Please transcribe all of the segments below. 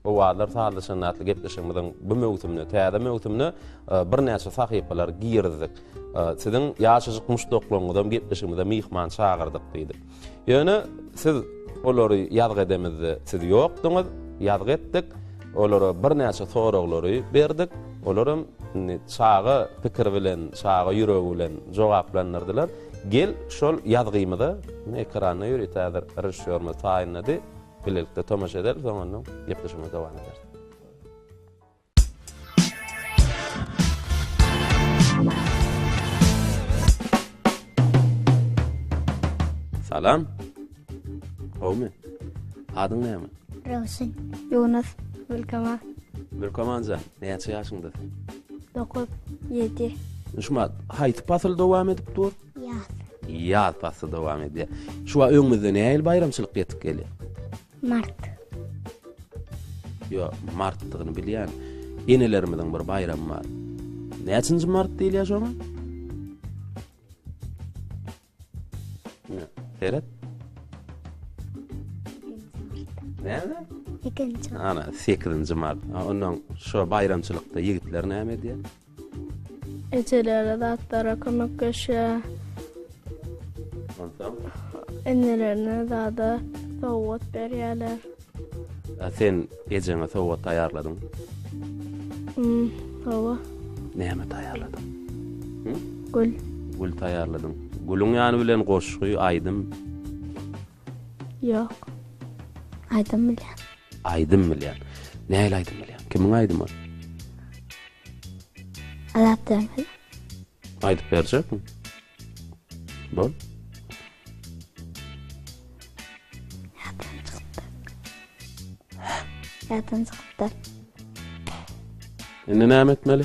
Owazlar sazlaşan atly gepleşigimiziň bu möwsümine, täze möwsümine birnäçe sahypalary girizdik. Siziň ýaşajyk muşdaklaryňyzam gepleşigimize myhman çagyrdyk diýdik. Ýöne siz olary ýazgy edemizde siz ýokduňyz, ýazgy etdik. Olara birnäçe soraglary berdik. Olaram indi çaga pikiri bilen, çaga ýüregi bilen jogaplandyrdylar. Gel, şol ýazgymyzy ekranda ýörüt häzir režissýorymyz taýynlady. Bilelikde tomaşa ederis, soň ondan gepleşigimizi dowam ederis. Salam. Gowmy? Adyň näme? Röwşen. Ýunus. Gülkama. Gülkamanja, näçe ýaşyňda? 9, 7. Şumat, haýsy pasyl dowam edip dur? Ýaz. Ýaz pasly dowam edýär. Şu wagt öňümizde nähili baýramçylyk ýetip gelýär? Mart. Ýok, martdygyny bilýän. Enelerimiziň bir baýramy bar. Näçinji mart diýilýär şoňa? Seret. Näme? Ikinci. Ana, 8-nji mart. Ondan şu baýramçylykda ýigitler näme edýär? Ejelere zatlara kömekleşýä. Onsoň? Enelerine zada sowgat berýärler. A sen ejeňe sowgat taýýarladyň? Hmm, hawa. Näme taýýarladyň? Gül. Gül taýýarladyň. Gülüň ýany bilen goşgy, aýdym? Ýok. Aýdym bilýän. Aýdym bilýän. Nähili aýdym bilýän? Kimiň aýdymy ol? Azat Döwmez. Aýdyp berjekmi? Bol. Ýatdan çykdy. Ýatdan çykdy. Indi näme etmeli?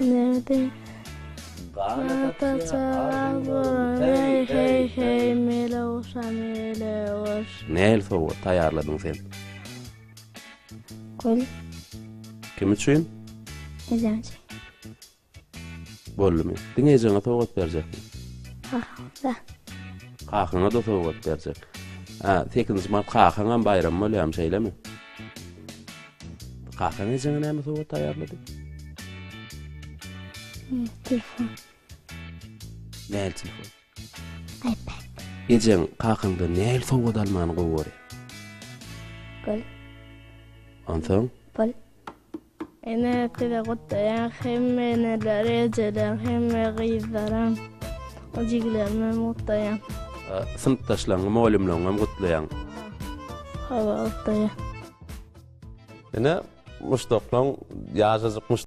Nerede? Hey hey hey mele oşa mele oş. Näl sowgat taýýarladyň sen? Gül. Kim üçin? Ejem üçin. Boldumy? Diňe ejeňe sowgat berjekmi? Kakaňa. Kakaňa da sowgat berjek. Ha, 8-nji mart kakaňam baýram bolýarmy, şeýlemi? Kakaň ejeňe näme sowgat taýýarlady? Telefon. Nähili telefon? iPad. Ejeň kakaňdan nähili sowgat almany gowy görýär? Gül. Onsoň? Pul. Ene size gutlaýan hemme eneler, ejeler, hemme gyzlaram, jiglerime gutlaýan. Synpdaşlaryňy, mugallymlaryňy hem gutlaýan. Hawa, gutlaýan. Ine muşdaklaň ýajajyk.